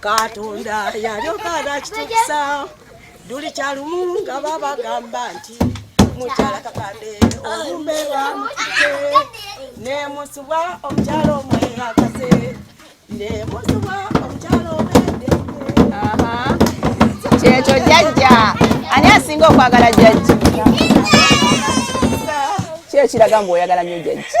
katonda yalyoka nakitukisa duli kyalumu nga babagamba nti mukyala kakande olumbe lwamutike nemusubwa omukyala omweyakase nemusubwa omukyala omwedee kyekyo jajja ani asinga okwagala jajja kyekiraga mbu oyagala nyo jajja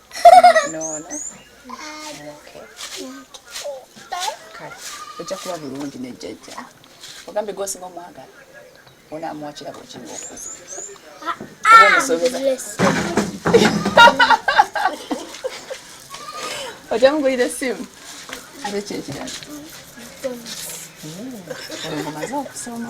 nono kale ojja kuba bulungi ne jjajja ogambye gwosinga omwagala onaamuwa kirabo okinga okuza ah, oba omusobeza ojja mugulira essimu ate kyekirala omaze okusoma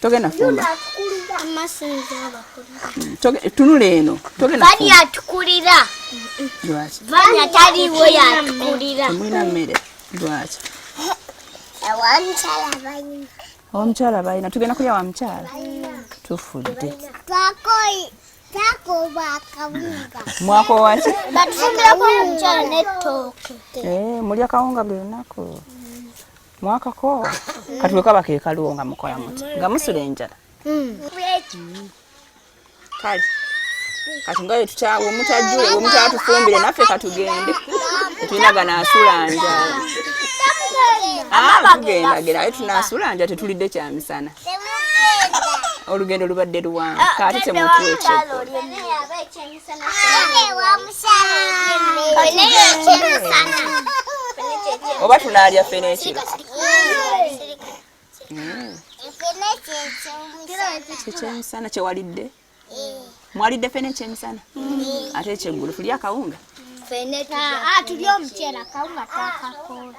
togenda fumba tunula eno togendaamulina mmere lwaki omukyala balina tugenda kulya wa mukyala tufudde mwakowaki eh, mulya kawunga buli lunaku mwakako kati bwe kaba kekaluwo nga mukola muti nga musula enjala kale kati nga wemutajjule wemutatufumbire naffe katugende tetulina ganasula njala ah, tugendagera aye tunasula nja tetulidde kyamisana olugendo lubadde luwanvu ah, kaate temutwekyo oba tunaalya ffe n'ekiro ekyemisana kyewalidde mwalidde ffe n'ekyemisana ate ekyeggulu tulya akawunga ah, ah, tulya omuceera akawunga twakakola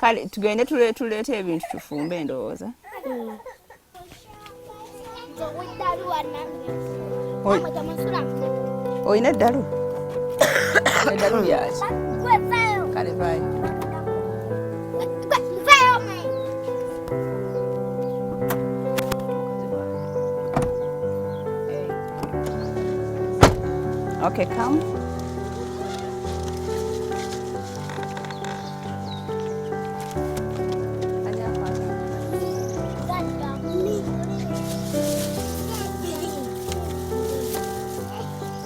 kale tugende tuleeta ebintu tufumbe endowooza olina eddalu eddalu lyaki kale vayo Okay, come.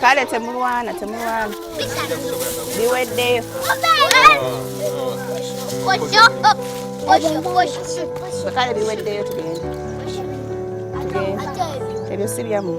kale temulwana temulwana biweddeyo kale biweddeyo tugende tugende ebyo si byammwe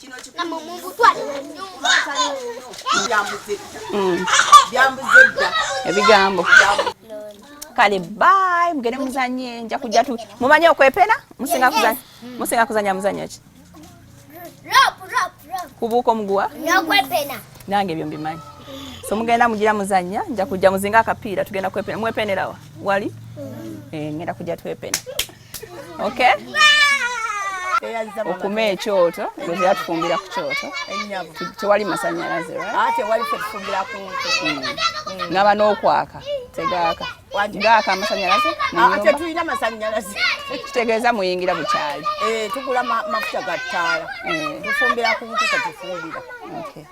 kino kikulu mumutwale mu nnyumba byambuze mm. byambuze dda ebigambo kale bye mugende muzanye nja kujja tu mumanye okwepena musinga kuzanya musinga kuzanya muzanya ki kubuuka omuguwa nokwepena nange ebyo mbimanyi so mugenda mugira muzanya nja kujja muzinga akapiira tugenda kwepenera mwepenerawa wali mm. eh, ngenda kujja twepena okay okuma ekyoto bweza tufumbira ku kyoto tewali masanyalaze ah, hmm. ngaba n'okwaka tegaaka gaaka amasanyalaze ah, tetulina masanyalaze kitegeeza muyingira bukyali eh, tugula mafuta ga ttaala eh. tufumbira ku nkuka tufumbira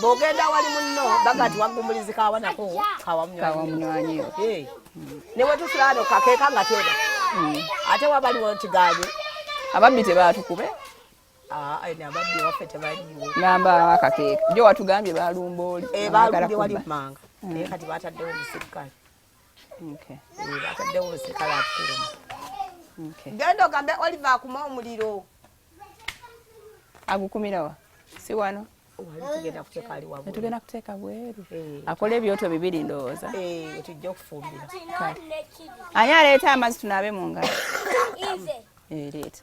bw'ogenda wali munno baga ti waggumulizi kawanako kawamunywanyi ne wetusula ano kakeeka nga teba hmm. ate wabaliwo nti gaali ababbi tebatukube ah, ababbi waffe tebaliwo namba akakeeka jo watugambye balumba oli eh, balumbye wali mumanga hmm. naye kati bataddewo omusirikale eh, bataddewo omusirikale atukulumu genda ogambe oliver akuma omuliro agukumirawa si wano tugenda kuteeka bweru eh. akola ebyoto bibiri ndowooza eh, ani aleeta amazzi tunaabe mu ngalo ereeta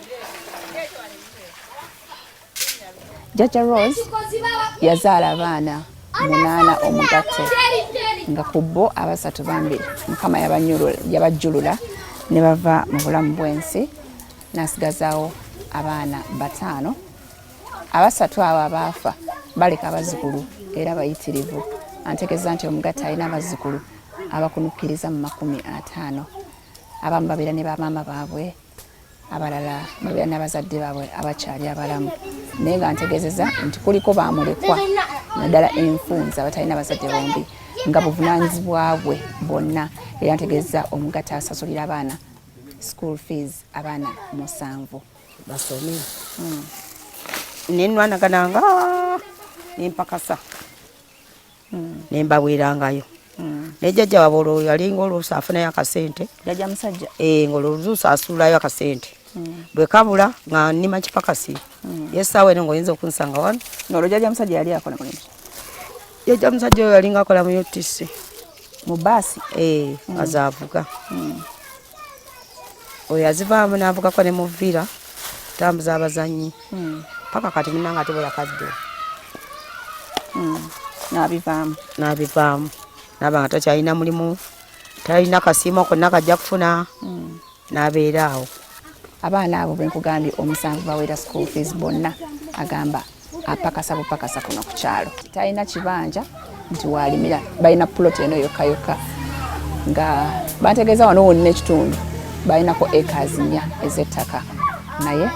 jajja rose yazaala abaana munaana omugatte nga ku bo abasatu bambi mukama yabajjulula ne bava mu bulamu bw'ensi n'asigazaawo abaana bataano abasatu abo abaafa baleka abazzukulu era bayitirivu antegeeza nti omugatte alina abazzukulu abakunukkiriza mu makumi ataano abamu babeera ne bamaama baabwe abalala babeera n'abazadde baabwe abakyali abalamu naye nga ntegezeza nti kuliko bamulekwa naddala enfunza abatalina abazadde bombi nga buvunanyizibwa bwe bwonna era ntegezeza omugata asasulira abaana school fees abaana musanvu basome hmm. nenwanagananga nempakasa mm. ne mbaweerangayo mm. naye jjajja waba olwo yalinga oluusi afunayo akasente jjajja musajja e, nga olwoluusi asuulayo akasente mm. bwe kabula nga nnima kipakasi mm. yesaawa eno ngaoyinza okunsanga wano nolwo jjajja musajja yali akola mulimu jjajja musajja oyo yalinga akola mu utc mu baasi e, mm. azaavuga mm. oyo azivaamu n'avugako ne mu villa tambuza abazannyi hmm. paka kati munanga ate bweyakadde hmm. nabivaamu nabivaamu naba nga takyalina mulimu talina kasiimo konna kajja kufuna hmm. nabeera awo abaana abo benkugambye omusanvu bawera school fees bonna agamba apakasa bupakasa kuno ku kyalo talina kibanja nti waalimira balina puloti eno yokka yokka nga bantegeeza wano wonna ekitundu balinako acres nnya ez'ettaka naye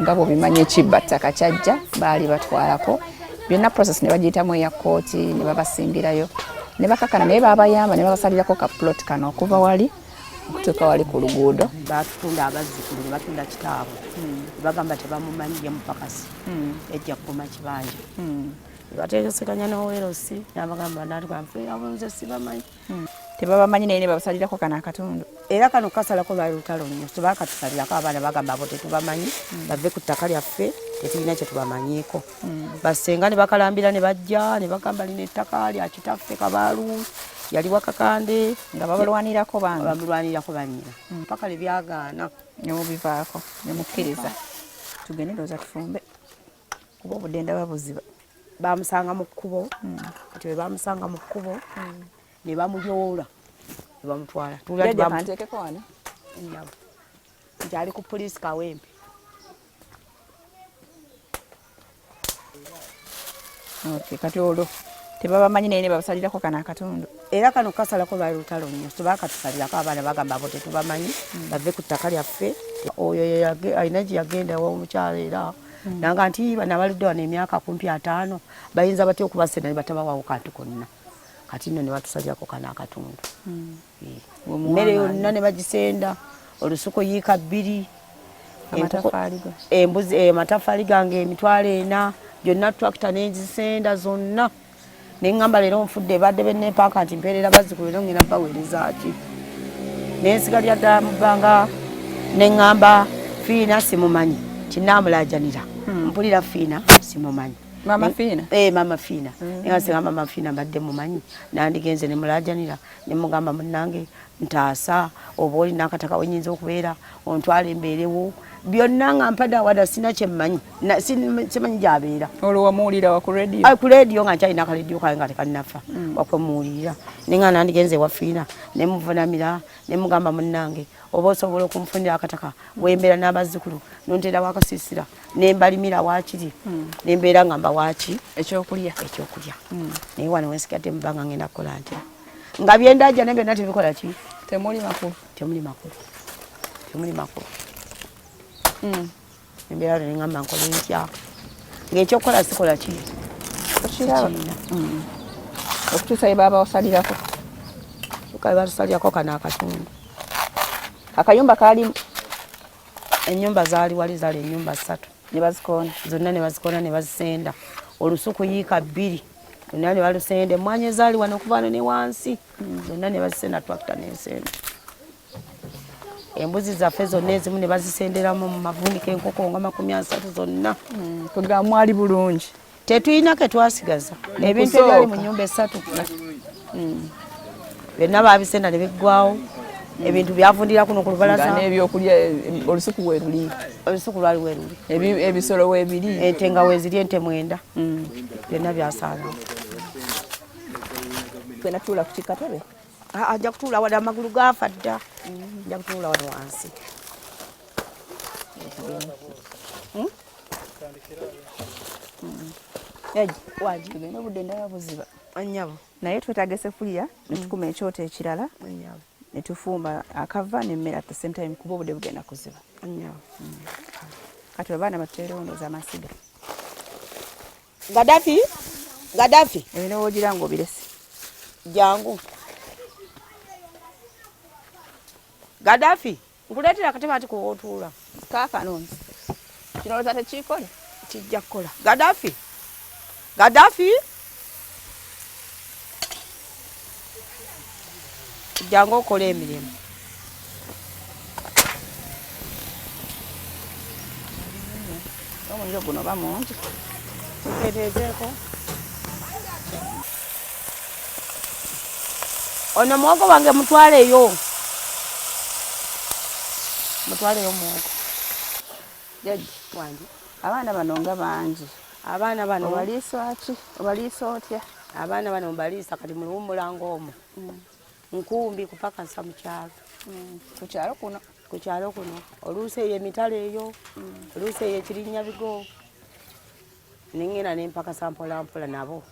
nga bwobimanyi ekibba ttaka kyajja baali batwalako byonna process ne bagiyitamu eya kkooti ne babasimbirayo ne bakakana naye babayamba ne babasalirako ka puloti kano okuva wali tuka wali ku luguudo batutunda abazzukulu ne batunda kitaabwe hmm. bagamba tebamumanyi ye mupakasi hmm. ejja kukuma kibanja hmm. bategesekanya nowerosi nabagamba natwanfeabunze sibamanyi tebabamanyi naye nebabasalirako kano akatundu era kano kasalako lwali lutalo nyo tebakatusalirako abaana bagamba abo tetubamanyi bave ku ttaka lyaffe tetulina kyetubamanyiiko hmm. basenga ne bakalambira ne bajja ne bagamba lino ettaka lya kitaffe kabaalu yali wakakande nga babalwanirako bambi bamulwanirako banyina hmm. mpaka lwe byagaana ne mubivaako ne mukkiriza tugende ndowooza tufumbe kuba obudde ndaba buziba bamusanga mu kkubo hmm. kati bwe bamusanga mu kkubo ne bamuyoola ne bamutwala nti ali ku poliisi kawempe Okay, kati olwo tebabamanyi naye nebabasalirako kano akatundu era kano kasalako bali lutalo nnyo tebakatusalirako abaana bagamba bo tetubamanyi hmm. bave ku ttaka lyaffe oyo alina gye yagenda womukyalo era hmm. nanga nti bana baludde wano emyaka kumpi ataano bayinza batya okubasena ne batabawawo kantu konna kati nno ne batusalirako kano akatundu hmm. emmere yonna ne bagisenda olusuku yiika bbiri embuzi eh, amatafaali gange emitwalo ena gyonna tracta nengisenda zonna neŋamba leero nfudde badde benepaaka nti mpeerera bazzukulu era ngenda baweerezaki nensiga lya ddala mu bbanga neŋamba fiina simumanyi tinamulajanira hmm. mpulira fiina simumanyi mama fina eh mama fina mm. nga singa mama fina badde mumanyi nandigenze ne mulajanira ne mugamba munnange ntaasa oba olina akataka wenyinza okubeera ontwala embeerewo byonna nga mpadde awada sina kyemmanyi simanyi gyabeera olwo wamuwulira wa ku radio ah, ku radio nga nkyalina akaledio kange nga tekannafa mm. wakwemuwulirira ne nga nandigenze ewafiina ne muvunamira ne mugamba munnange oba osobola okumfunira akataka wembeera n'abazzukulu nonteerawo akasiisira nembalimira wakiri hmm. nembeera nga mbawaki ekyokulya ekyokulya hmm. naye wano wensigadde mubanga ngenda kukola nti nga byendaja naye byonna tebikola ki temuli makulu temuli makulu temuli makulu hmm. embeera lwe nengamba nkola entya ngaekyokukola sikola ki okirina okutuusa ye baba wasalirako kale batusalirako kano akatundu akayumba kalimu enyumba zali wali zali enyumba satu nebazikona zonna nebazikona nebazisenda olusuku yiika bbiri zonna nebalusenda emwanyi ezali wano okuvano ne wansi zonna nebazisenda twakita nensenda embuzi zaffe zonna ezimu nebazisenderamu mu mavunika enkoko nga makumi asatu zonna mm, kugamwali bulungi tetulina ke twasigaza ebintu ebyali mu nyumba esatu mm. byonna baabisenda ne biggwawo ebintu byavundira kuno ku lubalaza n'ebyokulya eh, olusuku weruli olusuku lwali weruli ebisolo webiri ente nga weziri ente mwenda mm. byonna byasaalawo genda tuula ku kikatebe ah, ajja kutuula wali amagulu gaafa dda mm. ajja kutuula wali wansi hmm? tugenda obudde ndaba buziba anyabo naye twetaaga esefuliya netukuma mm. ekyoto ekirala netufuuma akava nemmere at the same time kuba obudde bugenda kuziba mm. kati abaana batuteerondooza amasiga gadafi gadafi ebinowogira nga obiresi jangu gadafi nkuleetera akatebe anti kuwootuula kaakano nti kirowooza tekiikole kijja kukola gadafi gadafi jangu okola emirimu omuliro guno bamungi tuketeezeeko Ono muwogo wange mutwaleyo. Mutwaleyo muwogo. Jaji wange. Abaana bano nga bangi. Abaana bano obaliisa ki? Obaliisa otya? Abaana bano mbaliisa kati muliwummula ng'omu. Mm. Nkumbi kupakasa mu kyalo. Mm. Ku kyalo kuno? Ku kyalo kuno. Oluusi eyo emitala eyo. Mm. Oluusi eyo ekirinnya bigo. nengenda nempakasa mpolampola nabo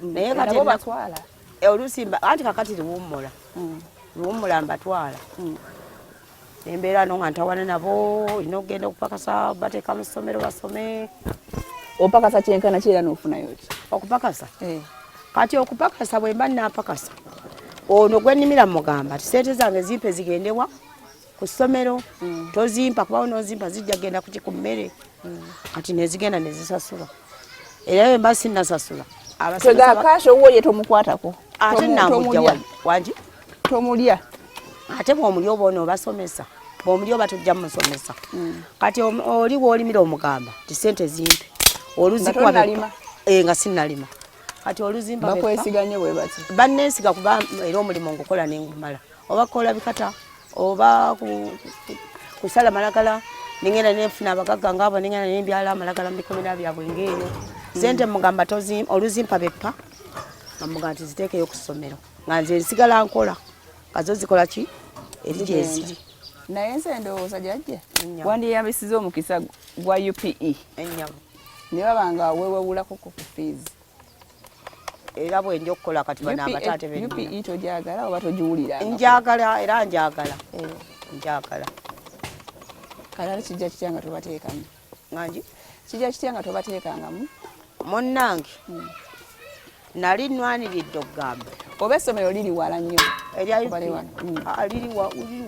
naye katibatwala eh, oluusi anti kakati liwummula mm. liwummula mbatwala mm. embeera no nga ntawana nabo olina okugenda okupakasa bateeka mu ssomero basome opakasa kyenkana kiera nofunayo ki okupakasa eh. kati okupakasa bwemba napakasa ono gwenimira mugamba ti sente zange zimpe zigendewa ku ssomero mm. tozimpa kubawo nozimpa zijja genda kuki ku mmere mm. kati nezigenda nezisasula era emba sinasasula abasegakasha owuwo ye tomukwatako ate namujja wangi tomulya ate bwomulya oba ono obasomesa bwomulya oba tujja mumusomesa mm. kati oli wolimira omugamba ti sente zimpe oluzikuwa eh, nga sinalima kati oluzimba bakwesiga nnyo bwe bati bannensiga kuba era omulimu ngukola ne ngumala oba kola bikata oba kusala malagala nengenda nenfuna abagagga ngaabo nengenda nembyala amalagala mubikomera byabwe ngaeyo sente mugamba oluzimpa beppa amugamba nti ziteekeyo ku ssomero nga nze nsigala nkola nga zo zikola ki eri gyeziri naye nze ndowooza jajja wandiyambisiza omukisa gwa upe ne baba nga wewewulakoko ku fiizi era bwenja okukola kati bano abataate benupe togyagala oba togiwulira njagala era njagala eh. njagala kalala kijja kitya nga tobateekamu ngangi kijja kitya nga tobateekangamu munnange hmm. nali nwaniriddde okugamba oba essomero liri wala nnyo hmm. ah, liri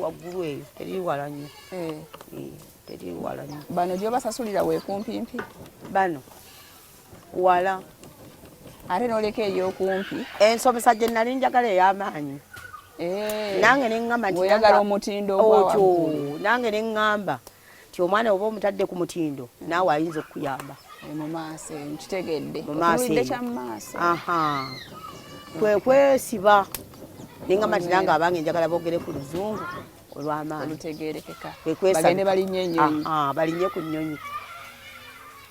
waggulu eyo teriri wala nnyo eh. eh, teriri wala nnyo bano gyobasasulira weekumpimpi bano wala ate noleka eyokumpi ensomesa gye nali njagala ey'amaanyi eh. nange neŋŋamba ntiagala omutindo otyo nange neŋŋamba nti omwana oba omutadde ku mutindo naawe ayinza okukuyamba eh, mu maaso eyo nkitegedde mu maaso kwe kwesiba neŋŋamba nti nange abange njagala boogere ku luzungu olw'amaanyi olutegeerekeka bagende balinye ennyonyi ah, ah, balinye ku nnyonyi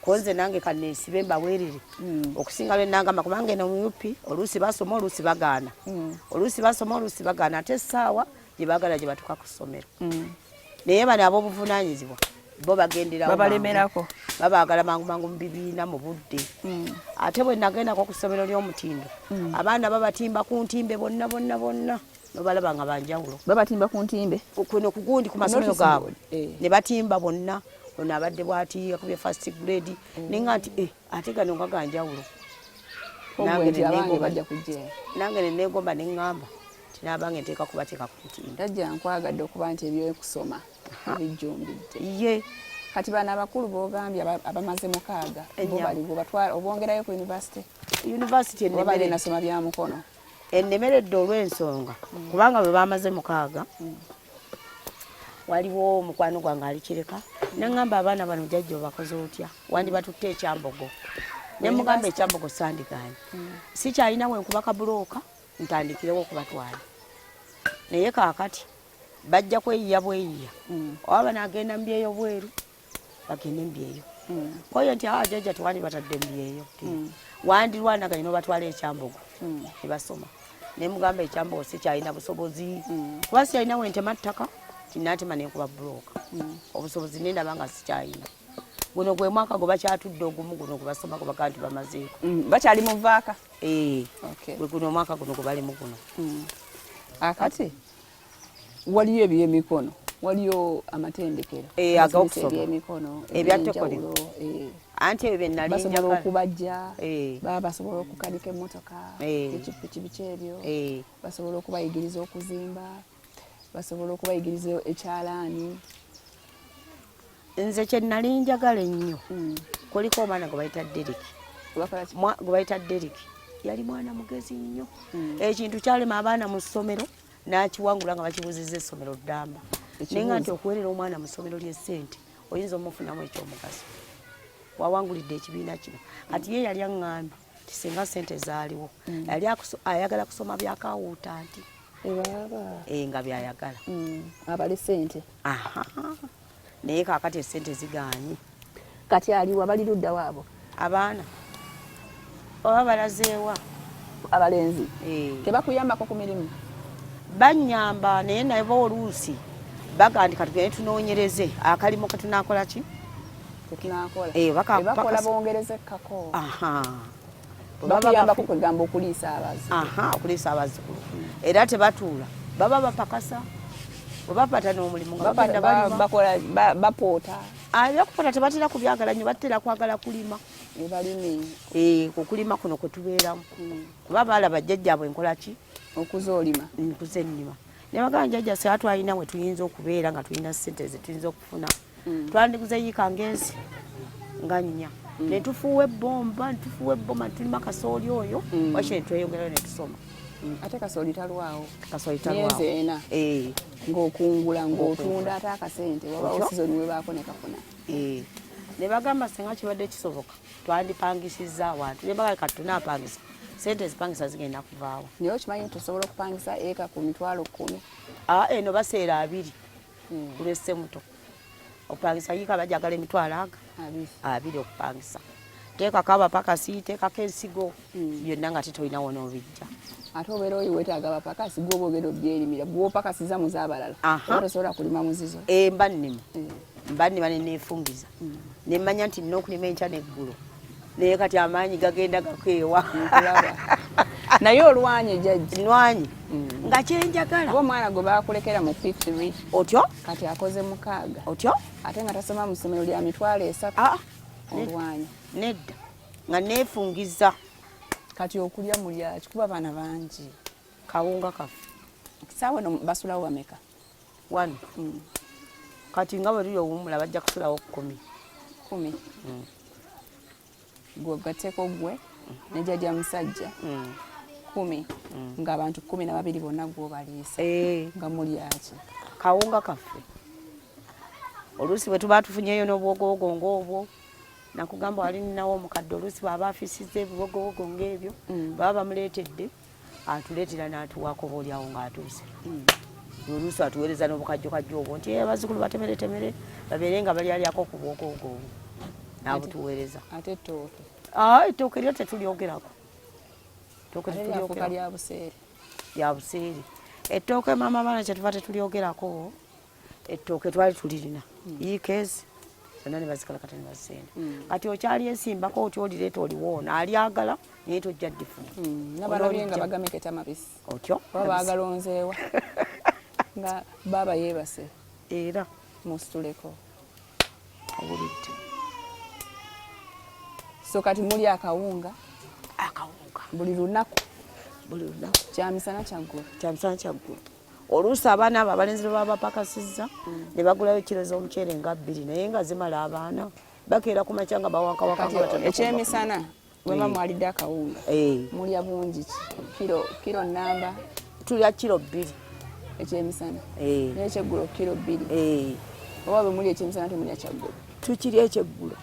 konze nange kaneesibe mbaweerere hmm. okusinga lwe nangamba kubanga eno mu up oluusi basoma oluusi bagaana hmm. oluusi basoma oluusi bagaana ate essaawa gye baagala gye batuuka ku ssomero hmm. naye bano ab'obuvunaanyizibwa bo bagenderaobabalemerako babaagala mangu mangu mu bibiina mu budde hmm. ate bwe nagendako ku ssomero ly'omutindo hmm. abaana babatimba ku ntimbe bonna bonna bonna nobalaba nga banjawulo babatimba ku ntimbe kuno kugundi ku masomero gaabwe eh. ne batimba bonna ono abadde bwati yakubye first grade mm. naye nga nti eh, ate gano nga ganjawulo nange nenegomba neŋŋamba nti nabange nteeka kubateeka ku ntimbe tajja nkwagadde okuba nti ebyokusoma bijjumbidde ye kati bana abakulu bogambye abamaze mukaaga bo baliwo batwala obongerayo ku university university enebere nasoma bya mukono ennemeredde olw'ensonga kubanga bwe baamaze mukaaga waliwo omukwano gwange alikireka nangamba abaana bano jajja obakoze otya wandibatutte ekyambogo nemugamba ekyambogo sandiganye mm. sikyalina wenkuba kabulooka ntandikirewo okubatwala naye kakati bajja kweyiya bweyiya mm. oba banagenda mubyeyo bweru bagende embyeyo koyo nti awa ah, jaja tewali batadde embyeyo hmm. wandirwana kanyina obatwala ekyambogo hmm. nebasoma naye mugamba ekyambogo sikyalina busobozi hmm. kuba siyalina wentema ttaka tinatema nenkuba buloka obusobozi nendaba nga sikyalina guno gwe mwaka gwe bakyatudde ogumu guno gwebasoma gwe bagaa nti bamazeeko bakyali muvaaka eh. gwe guno omwaka guno gwe balimu guno akati waliyo ebyemikono waliyo amatendekero eh, ag'okusomaebyemikono ebyatekolero eh. anti ebyo byenalinbasobola okubajja eh. baba basobola okukanika emmotoka ekipiki biki ebyo basobola okubayigiriza okuzimba basobola okubayigiriza ekyalaani nze kyenali njagala ennyo hmm. kuliko omwana gwe bayita derik gwe bayita derik yali mwana mugezi nnyo hmm. ekintu kyalema abaana mu ssomero n'akiwangula nga bakibuuzizza essomero ddamba naye nga nti okuweerera omwana mu ssomero ly'essente oyinza omufunamu ekyomugaso wawangulidde ekibiina kino kati ye yali aŋŋambye nti singa ssente zaaliwo mm. yali ayagala kusoma byakawuuta nti eh, nga byayagala mm. abale ssente naye kakati esente ziganye kati aliwa bali ludda waabo abaana oba balazeewa abalenzi eh. tebakuyambako ku mirimu banyamba naye nabo oluusi bagandika tugende tunoonyereze akalimu ketunakola ki ketunakola eh, bakola bongereze kako babayambako kwegamba okuliisa abazzukulu aha okuliisa abazzukulu era tebatuula baba bapakasa webapata n'omulimu nga bagenda balima bakola bapoota abyakupoota ah, tebatera kubyagala nyo batera kwagala kulima ebalime eh, kukulima kuno kwetubeeramu hmm. kuba baalaba jjajjaabwe enkola ki okuza olima nkuza ennima ne bagamba jjajja se atwalina we tuyinza okubeera nga tulina ssente ze tuyinza okufuna mm. twandiguze yiika ngezi nga nnya mm. ne tufuuwa ebbomba netufuuwa ebbomba netulima kasooli oyo mm. waki netweyongerayo netusoma mm. ate kasooli talwawo kasooli talwawo ena eh. ng'okungula ng'otunda ate akasente wabawo sizoni webaako ne kafuna eh. ne bagamba singa kibadde kisoboka twandipangisiza awantu ne bagala kati tunapangisa sente ezipangisa zigenda kuvaawo naye okimanyi nti osobola okupangisa eka ku mitwalo kkumi ah, eno baseera abiri hmm. kulwese muto opangisa yika bajagala emitwalo aga abiri okupangisa teekako abapakasi teekako ensigo hmm. byonna nga tetolina wona obijja ate obeera oyo wetaaga abapakasi gwoba ogenda obyerimira gwopakasiza mu zabalala oba tosobola kulima muzizo eh, mba nnima eh. mba nnima neneefumbiza hmm. nemmanya nti nina okulima enkya neggulo naye kati amaanyi gagenda gakeewa naye olwanye jajji nwanyi mm. nga kyenjagala oba omwana gwe bakulekera mu fifth re otyo kati akoze mukaaga otyo ate nga tasoma mu ssomero lya mitwalo esatu ah, olwanye nedda nga neefungiza kati okulya mulyaki kuba abaana bangi kawunga kafe saawa no basulawo bameka wano mm. kati nga bwe luli owummula bajja kusulawo kumi kumi mm. gwe ogatteko gwe mm. ne jajja musajja kumi nga abantu kumi na babiri bonna gwobaliisa eh. nga mulyaki kawunga kaffe oluusi bwe tuba tufunyeyo n'obwogowogo ng'obwo nakugamba wali ninawo omukadde oluusi bwaba afisiza ebibogowogo ng'ebyo baba bamuleetedde atuleetera n'atuwaako oba olyawo ng'atuuse hmm. oluusi atuweereza n'obukajjokajjo obwo nti abazzukulu batemeretemere babeere nga balyalyako ku bwokoogo obwo n'abutuweereza ate ettooke ah, ettooke lyo tetulyogerako ettooke tetulyogerako lya buseere ettooke maama baana kyetuva tetulyogerako Ettooke twali tulirina ikeezi zonna ne bazikalakata ne bazisenda mm. kati okyali esimbako otya olireeta oliwoona alyagala naye tojja ddifuna mm. nabalabye nga bagameketa mabisi otyo oba baagalonzeewa nga baaba yeebase era musituleko obulidde so kati muli akawunga akawunga buli lunaku buli lunaku kyamisana kyaggulu kyamisana kyaggulu oluusi abaana abo abalenzi bwe baba bapakasizza ne bagulayo kiro z'omuceere nga bbiri naye nga zimala abaana bakeera ku makya nga bawakawakaekyemisana bweba eh. mwalidde akawunga eh. mulya bungi kiro kiro namba tulya kiro bbiri ekyemisana eh. naye ekyeggulo kiro bbiri oba bwe muli ekyemisana temulya kyaggulo tukiri ekyeggulo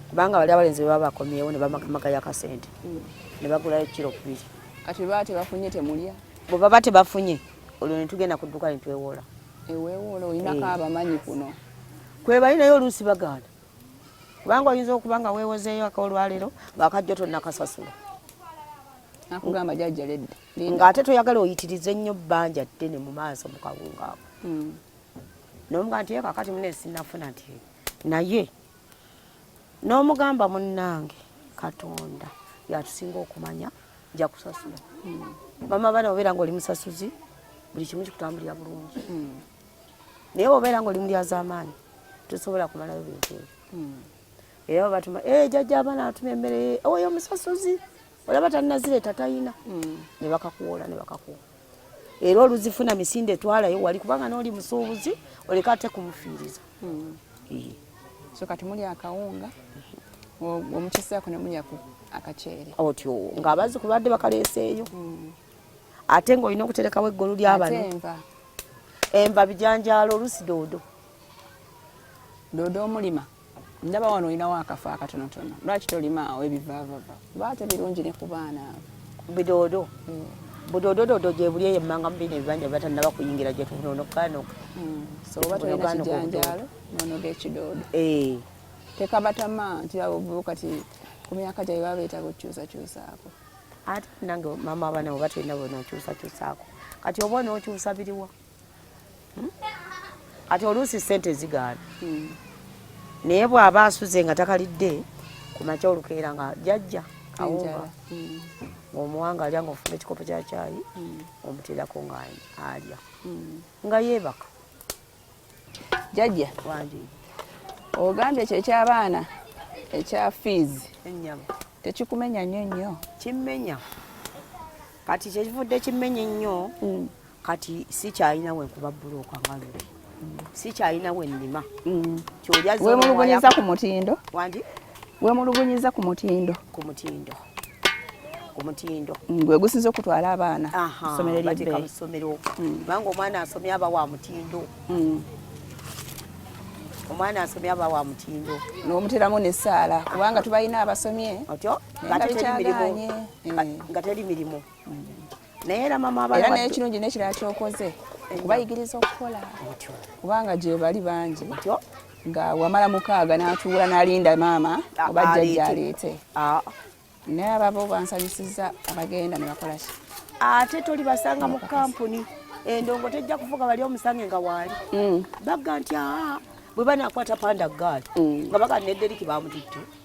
kubanga bali abalenzi bwe baba bakomyewo ne bamaka yakasente mm. ne bagulayo kiro bbiri kati baba tebafunye temulya bwe baba tebafunye olwo ne tugenda ku dduuka ne twewoola eweewoola olinako eh. abamanyi kuno kwebali naye oluusi bagaana kubanga oyinza okuba nga weewozeeyo akaolwaleero ng'akajjo tonnakasasula nakugamba jajja ledda ng'ate toyagala oyitirize nnyo bbanja ddene mu maaso mu kawungaako hmm. nomuga nti kakati mune sinafuna nti naye n'omugamba munnange katonda yatusinga okumanya nja kusasula hmm. mama abaana obeera nga oli musasuzi buli kimu kikutambulira bulungi hmm. naye obeera nga oli mulyazamaanyi tosobola kumalayo bintu ebyo hmm. era batuma eh, jajja abaana atuma emmere oyo musasuzi olaba tanazireta tayina mm. nebakakuwola nebakakuwa era oluzifuna misinde etwalayo wali kubanga noli musuubuzi oleka ate kumufiiriza mm. so kati muli akawunga omukiseako nemulya akaceere otyo nga abazi kubadde bakaleeseeyo mm. ate ngaolina okuterekawo eggolu lyabano enva bijanjaalo olusi doodo doodo omulima ndaba wano olinawo akafo akatonotono lwaki tolimaawo ebivaavava baate birungi ne ku baana abo bidoodo mm. budoodododo gyebuli eyo emmanga mubina ebibanja batanaba kuyingira gyetunonokaanoka mm. so oba tolina kijanjaalo nonoga ekidoodo eh. tekabatama nti abo kati ku myaka gyabwe baba beetaaga okukyusakyusaako ate nange maama abaana bo batulina bona okyusakyusaako kati oba onookyusa biriwa ati oluusi sente zigaana hmm. naye bw'aba asuze nga takalidde ku makya olukeera nga jajja awunga hmm. ng'omuwanga alya ng'ofuna ekikopo kya kyayi hmm. omuteerako nga alya nga yeebaka jajja wangi ogambye ekyo ekyabaana ekya fiizi ennyama tekikumenya nnyo nnyo kimmenya kati kyekivudde kimmenya ennyo kati sikyalina wenkuba bbulooka nga luli sikyalina wennima mm. kyoliawemulugunyiza ku mutindo wandi wemulugunyiza ku mutindo ku mutindo ku mutindo mm, gwe gusinza okutwala abaana somero lyebbeeyi mu ssomero mm. kubanga omwana asomye aba wa mutindo omwana asomye aba wa mutindo nomuteramu nesaala kubanga tubalina abasomye otyo nga teri mirimu mm. naye era mama abana era naye kirungi nekirala kyokoze okubayigiriza okukola kubanga gyebali bangi nga wamala mukaaga natuula nalinda maama oba jjajja aleete naye ababo bansanyusiza abagenda nebakolaki ate toli basanga mu kampuni endongo tejja kuvuga bali omusange nga waali mm. bagga nti aa bwe banakwata panda gaali mm. nga baga nederiki bamututte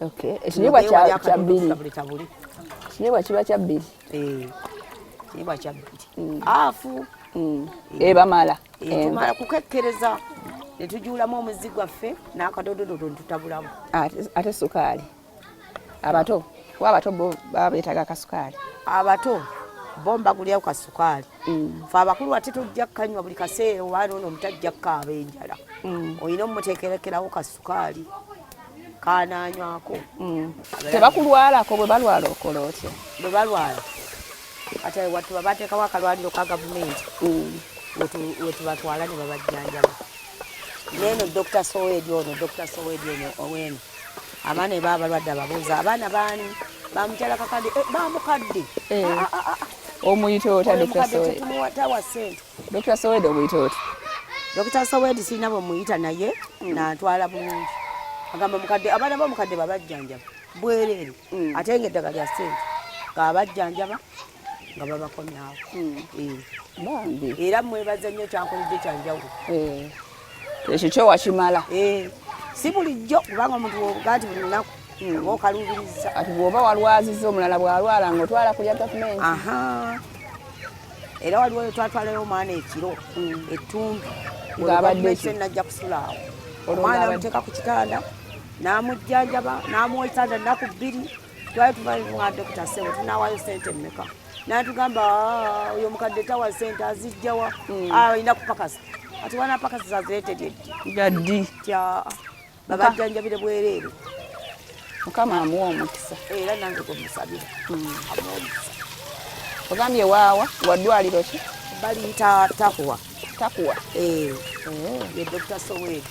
Okay. Ekinyebwa kya kya bili. Ekinyebwa kiba kya bili. Eh. Ekinyebwa kya bili. Mm. Afu. Mm. Eh, Eba mala. Eh, eh. Mala kukekkereza. Netujulamu omuzi gwaffe n'akadododo tutabulamu. Ate ate sukaali. Abato. Wa abato bo baba beetaga kasukaali. Abato. bomba kulya ku kasukaali mm. fe abakulu wati tujja kukanywa buli kaseera owaana ono omutajja kukaaba enjala mm. olina omuteekerekerawo kasukaali kananywako mm. tebakulwalako bwe balwala okola otya bwe balwala ate watu babateekawo akalwaliro ka gavumenti mm. wetubatwala ne babajjanjaba neeno dr sowedi ono dr sowedi ono oweno abaana eba abalwadde ababuuza abaana baani bamukyala kakadde eh, bamukadde eh. ah, ah, ah, omuyita otadde tumuwatawa sente Dokita Sowedi omuyita oti? Dokita Sowedi sirina bwe muyita naye mm. natwala bulungi. Agamba mukadde abaana ba mukadde babajjanjaba bwereere mm. ate nga eddagala lya ssente nga abajjanjaba nga babakomyawo. Mm. Eh. Bambi. Era mwebaza nnyo kyankoledde kyanjawulo. Eh. ekyo kyo wakimala eh, si bulijjo kubanga omuntu wobuga nti buli lunaku hmm. oba okaluubiriza ati bwoba walwaziza omulala bwalwala nga otwala kulya gavumenti era waliwo twatwalayo omwana ekiro hmm. ettumbi najja kusulaawo omwana amuteeka ku kitanda n'amujjanjaba n'amuwa ekitanda nnaku bbiri twali tuvaaa dokita sebo tunawaayo sente mmeka natugamba ah, oyo mukadde tawa sente azijjawa hmm. ah, alina kupakasa ati wana pakasa zaziretereddi gaddi tya babajjanjabire bwereere mukama amuwa omukisa era nange gwemusabira hmm. amuwa omukisa ogambye waawa wadwaliro ki baliyita takuwa takuwa eh. eh. ye dr sowedi